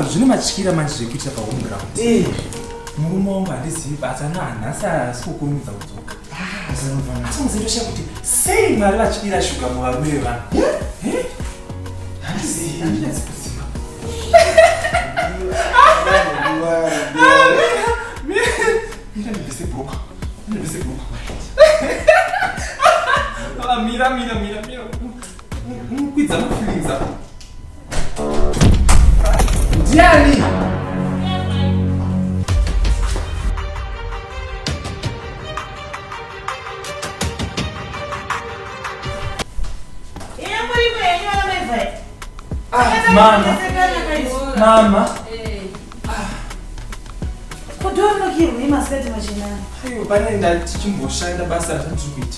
zvine matyira manje zvekuita pahome ground eh. murume wangu handizivi but ana hanhasi asi kukurumidza kudzoka ah, asi muzendosha kuti sei mwari vatyira shuga muvarume vevanhu eh? handizivi handinatsi kuziva Mira, mira, mira, mira. Mama. Mama. Kudonokirwa imaseti machinani. Aiwa pane ndati chimboshanda basa ratiri kuita.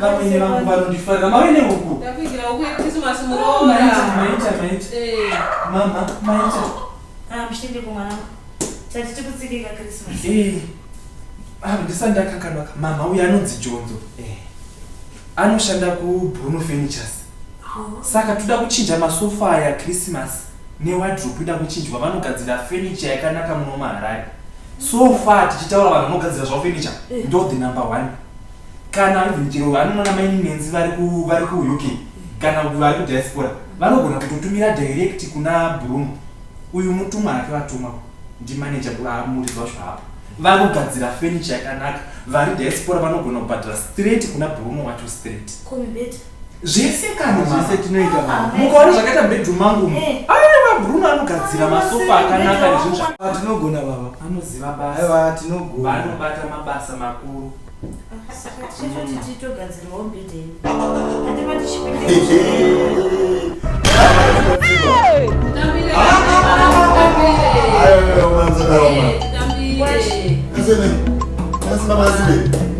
vamwene vangu vanondifarira mawene huku mama maita ndisandakakanaka mama uyo anonzi jonzo eh. anoshanda kubruno furnitures oh. saka toda kuchinja masofa aya krismas ne wardrope ida kuchinjwa vanogadzira furniture yakanaka muno muHarare so far tichitaura vanhu vanogadzira zvavo furniture eh. ndo the number one kana even chero vanonona maini nenzi vari ku vari ku UK kana vari ku diaspora vanogona kutotumira direct kuna Bruno uyu mutumwa ake vatuma ndi manager kwa muridzi wacho hapo vanogadzira furniture yakanaka vari diaspora vanogona kubhadhara straight kuna Bruno wacho straight zvese kana zvese tinoita mukaona zvakaita bedroom mangu mu eh. aiwa bruno anogadzira masofa akanaka nezvinhu zvaa tinogona baba anoziva basa aiwa tinogona vanobata mabasa makuru Hey!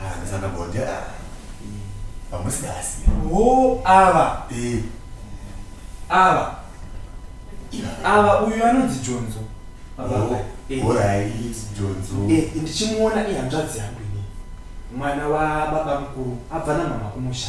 Ah, that's another body. Ah. Vamwe sikasi. wo ava Eh, ava ava uyu anonzi jonzo baba oh, ava. Eh. alright, Jonzo. Eh, ndichimuona ihanzvadzi yangu ini mwana wababa mukuru abva namama kumusha